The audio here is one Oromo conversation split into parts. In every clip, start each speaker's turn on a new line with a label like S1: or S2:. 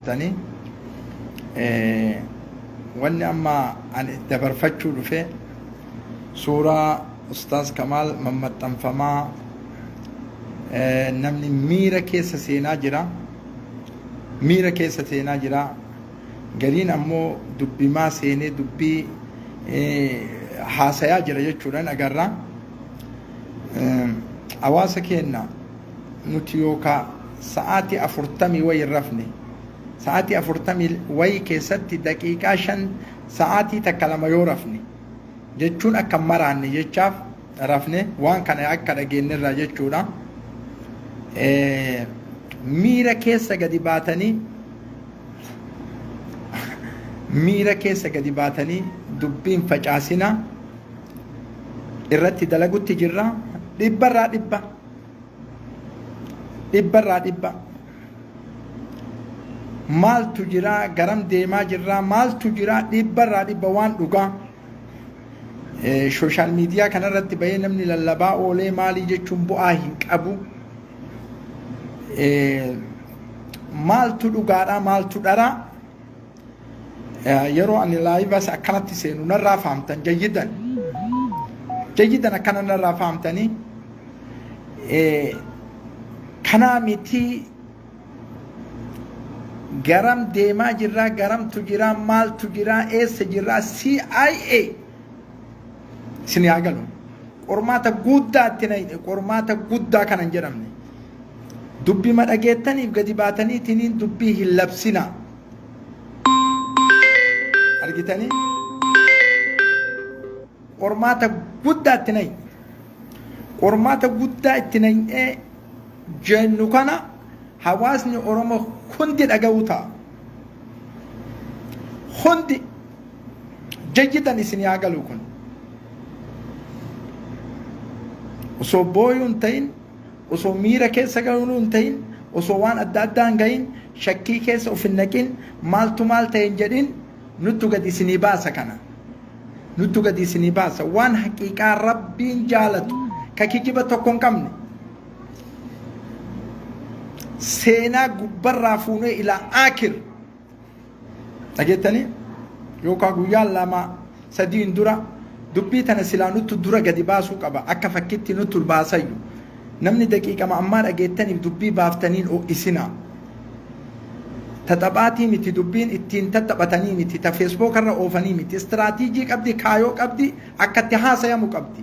S1: tanii wanni amma ani dabarfachuu dhufe suuraa ustaaz kamaal mammaxxanfamaa namni miira keessa seenaa jira miira keessa seenaa jira gariin ammoo dubbimaa seenee dubbii haasayaa jira jechuudhaan agarra hawaasa keenna Nuti yoo kaa sa'aatii afurtamii wayi hin rafne. Sa'aatii afurtamii wayi keessatti daqiiqaa shan sa'aatii takka lama yoo rafne jechuun akka hin maraanne jechaaf rafne waan kana akka dhageenyerraa jechuudha. Miira keessa gadi baatanii miira keessa gadi baatanii dubbiin facaasina irratti dalagutti jirra dhibbarraa dhibba. dhibba irraa dhibba maaltu jira garam deemaa jirra maaltu jira dhibba irraa dhibba waan dhugaa sooshaal miidiyaa kanarratti bahee namni lallabaa oolee maalii jechuun bu'aa hin qabu maaltu dhugaadha maaltu dharaa yeroo ani laayivas akkanatti seenu narraa fahamtan jayyidan jayyidan akkana narraa fahamtanii kanaa mitii garam deemaa jirraa garamtu jiraa maaltu jiraa eessa jirraa CIA isin yaa galu qormaata guddaa itti na hidhe qormaata guddaa kana hin jedhamne dubbii madhageettaniif gadi baataniitiniin dubbii hin labsinaa argitanii qormaata guddaa itti nayi qormaata guddaa itti nayinee jennu kana hawaasni oromoo hundi dhaga'uu ta'a hundi jajjitan isin yaa galu kun osoo booyuun ta'in osoo miira keessa galuu hin ta'in osoo waan adda addaa hin gahin shakkii keessa of hin naqin maaltu maal ta'e hin jedhin nuttu gadi isinii baasa kana nuttu gadi isinii baasa waan haqiiqaa rabbiin jaalatu ka kijiba tokko hin qabne seenaa gubbarraa fuunee ilaa aakir dhageettanii yookaan guyyaa lama sadiin dura dubbii tana silaa nuttu dura gadi baasuu qaba akka fakkitti nuttu baasayyu namni daqiiqama ammaa dhageettaniif dubbii baaftaniin ho'isinaa taphaatii miti dubbiin ittiin taphatanii miti ta feesbookarra oofanii miti istiraatiijii qabdi kaayoo qabdi akka itti haasayamu qabdi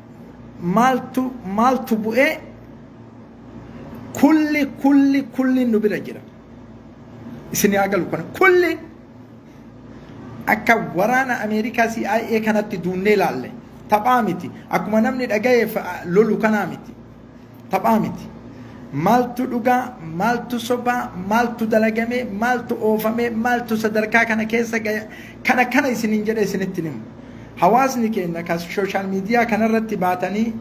S1: maaltu maaltu bu'ee kulli kulli kulli nu bira jira isin haa galu kana kulli akka waraana ameerikaa CIA kanatti duunnee laalle taphaa miti akkuma namni dhagayeef lolu kanaa miti Taphaa miti. Maaltu dhugaa, maaltu sobaa, maaltu dalagamee, maaltu oofamee, maaltu sadarkaa kana keessa gaya, kana kana isiniin jedhee isinitti himu. Hawaasni keenya kan sooshaal miidiyaa kanarratti baatanii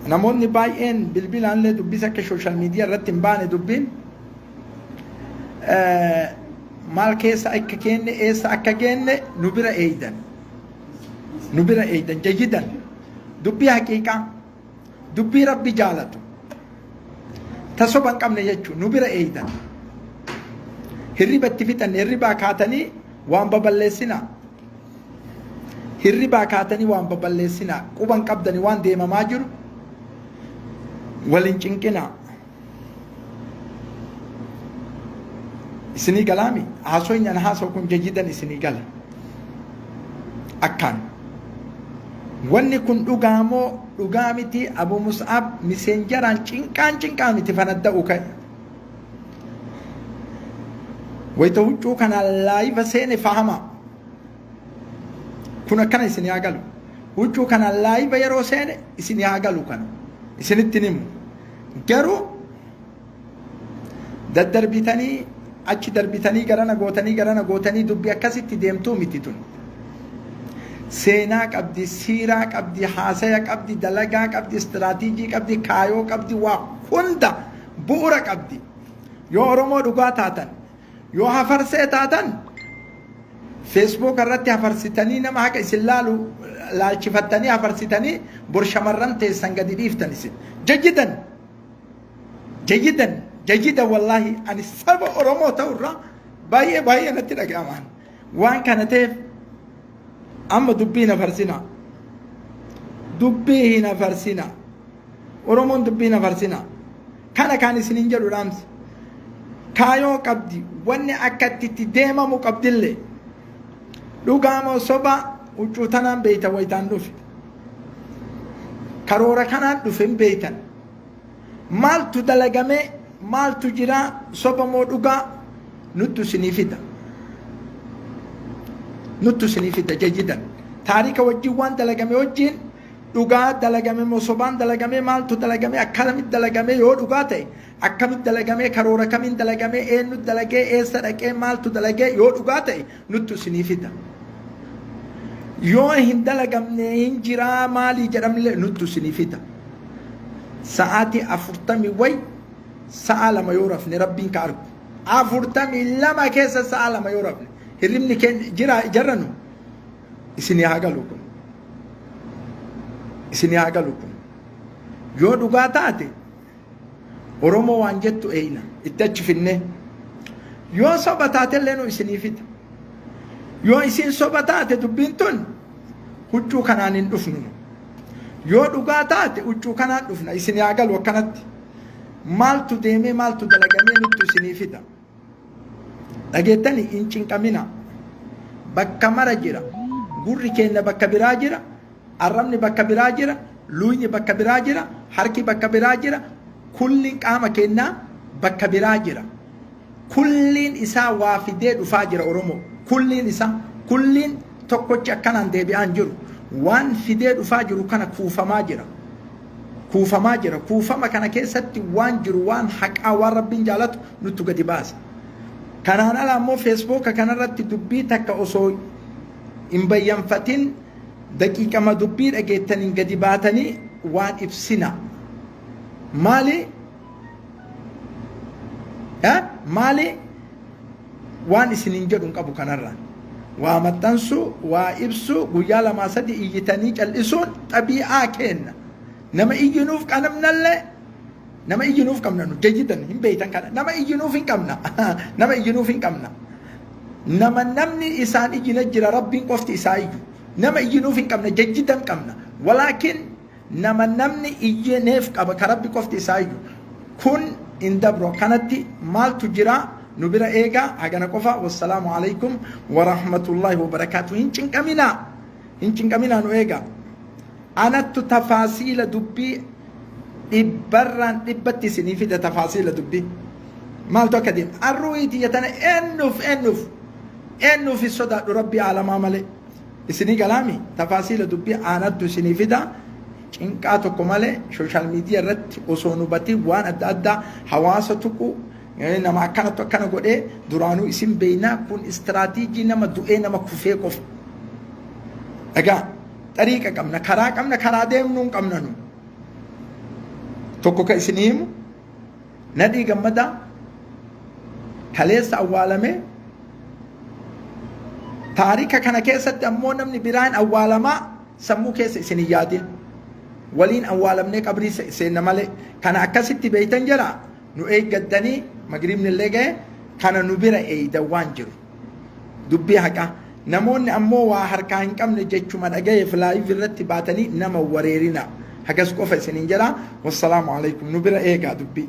S1: namoonni baay'een bilbilaallee dubbisa akka sooshaal miidiyaa irratti hin baane dubbiin maal keessa akka keenne eessa akka geenne nu bira eeydan nu bira eeydan jayyidan dubbii haqiiqaa dubbii rabbi jaalatu ta soba hin qabne jechuun nu bira eeydan hirriba itti fixanne hirribaa kaatanii waan baballeessinaa hirribaa kaatanii waan baballeessinaa quban qabdanii waan deemamaa jiru waliin cinqinaa isinii galaami haasoyni an haasa'u kun jayyidan isinii gala akkaan wanni kun dhugaa moo dhugaa miti abu mus'ab miseenjaraan cinqaan cinqaa miti fanadda'u ka'e wayta huccuu kana laayiva seene fahama kun akkana isin haa galu huccuu kana laayiva yeroo seene isin haa galu kana isinitti himu Garuu daddarbitanii achi darbitanii garana gootanii garana gootanii dubbi akkasitti deemtuu miti tun. Seenaa qabdi, siiraa qabdi, haasaya qabdi, dalagaa qabdi, istiraatiijii qabdi, kaayoo qabdi, waa hunda bu'ura qabdi. Yoo Oromoo dhugaa taatan Yoo hafarsee taatan feesbuuk irratti hafarsitanii nama haqa isin laalu laalchifattanii hafarsitanii bor shamarran teessan gadi dhiiftan isin. Jajjidan! Jajjidan! Jajjidan wallaahi ani saba Oromoo ta'urraa baay'ee baay'ee natti dhaga'amaan. Waan kana ta'eef amma dubbii na farsinaa. Dubbii hin hafarsinaa. Oromoon dubbii hin hafarsinaa. Kana kaan isinin jedhu dhaamsi kaayoo qabdi wanni akka itti itti deemamu qabdillee dhugaa moo soba huccuu tanaan beeytan waytaan dhufe karoora kanaan dhufe hin beeytan maaltu dalagamee maaltu jiraa soba moo dhugaa nuttu isinii fida nuttu isinii fida jajjidan taarika wajjin waan dalagame wajjin dhugaa dalagame moo sobaan dalagamee maaltu dalagamee akkanamitti dalagamee yoo dhugaa ta'e akkamitti dalagamee karoora kamiin dalagamee eenyu dalagee eessa dhaqee maaltu dalagee yoo dhugaa ta'e nuttu isinii fida. Yoo hin dalagamne hin jiraa maalii jedhamlee nuttu isinii fida. Sa'aatii afurtamii wayi sa'a lama yoo rafne rabbiin ka argu. Afurtamii lama keessa sa'a lama yoo rafne hirribni keenya jira ijarranu Isinii haa galu kun. Isinii haa galu kun. Yoo dhugaa taate Oromoo waan jettu eeyna itti achi finnee. Yoo soba taate illee nu isinii fida. Yoo isiin soba taate dubbiin tun huccuu kanaan hin dhufnu. Yoo dhugaa taate huccuu kanaan dhufna isinii haa galu akkanatti. Maaltu deemee maaltu dalagamee nuttu isinii fida. Dhageettani hin cinqamina. Bakka mara jira. Gurri keenya bakka biraa jira. Arrabni bakka biraa jira. Luuyni bakka biraa jira. Harki bakka biraa jira. Kulliin qaama keenyaa bakka biraa jira. Kulliin isaa waa fidee dhufaa jira Oromoo. Kulliin isaa kulliin tokkochi akkanaan deebi'aa hin jiru. Waan fidee dhufaa jiru kana kuufamaa jira. kuufamaa jira. Kuufama kana keessatti waan jiru waan haqaa waan rabbiin jaalatu nuttu gadi baasa. Kanaan ala ammoo feesbooka kanarratti dubbii takka osoo hin bayyanfatin daqiiqama dubbii dhageettaniin gadi baatanii waan ibsina. Maali? Maali? Waan isiniin jedhu hin qabu kanarra. Waa maxxansuu, waa ibsuu, guyyaa lamaa sadii iyyitanii cal'isuun xabii'aa keenna. Nama iyyinuuf qabnallee nama iyyinuuf qabna nu jayyidan hin beeytan kana nama iyyinuuf hin qabna nama iyyinuuf hin qabna nama namni isaan iyyina jira rabbiin qofti isaa iyyu nama iyyinuuf hin qabna jayyidan qabna walaakin Nama namni iyyee neef qaba ka Rabbi qofti isaa iyyu. Kun hin dabru akkanatti maaltu jira nu bira eegaa hagana qofa wassalaamu alaykum warahmatullaahi wabarakaatu hin cinqaminaa hin cinqaminaa nu eegaa anattu tafaasiila dubbii dhibbarraan dhibbatti isinii fida tafaasiila dubbii maaltu akka deema arruuyi tiyya tana eennuuf eennuuf eennuuf hin sodaadhu rabbii aalamaa malee Isinii galaami tafaasiila dubbii aanattu isinii fida cinqaa tokko malee social media irratti osoo hin hubatiin waan adda addaa hawaasa tuquu nama akkanatu akkana godhee duraanuu isin beeynaa kun istiraatiijii nama du'ee nama kufee qofa. Dhagaa xariiqa qabna karaa qabna karaa deemnuu hin qabna nu tokko ka isinii himu Nadhii Gammadaa kaleessa awwaalame. Taarika kana keessatti ammoo namni biraan awwaalamaa sammuu keessa isin hin yaadin. Waliin awwaalamnee qabrii seenna malee kana akkasitti beeytan jira nu eeggattanii magriibni illee ga'e kana nu bira eeydan waan jiru. Dubbii haqaa. Namoonni ammoo waa harkaa hin qabne jechuma dhagayeef live irratti baatanii nama wareerinaa. Hagas qofa isiniin jedha. Wassalaamu alaikum. Nu bira eegaa dubbii.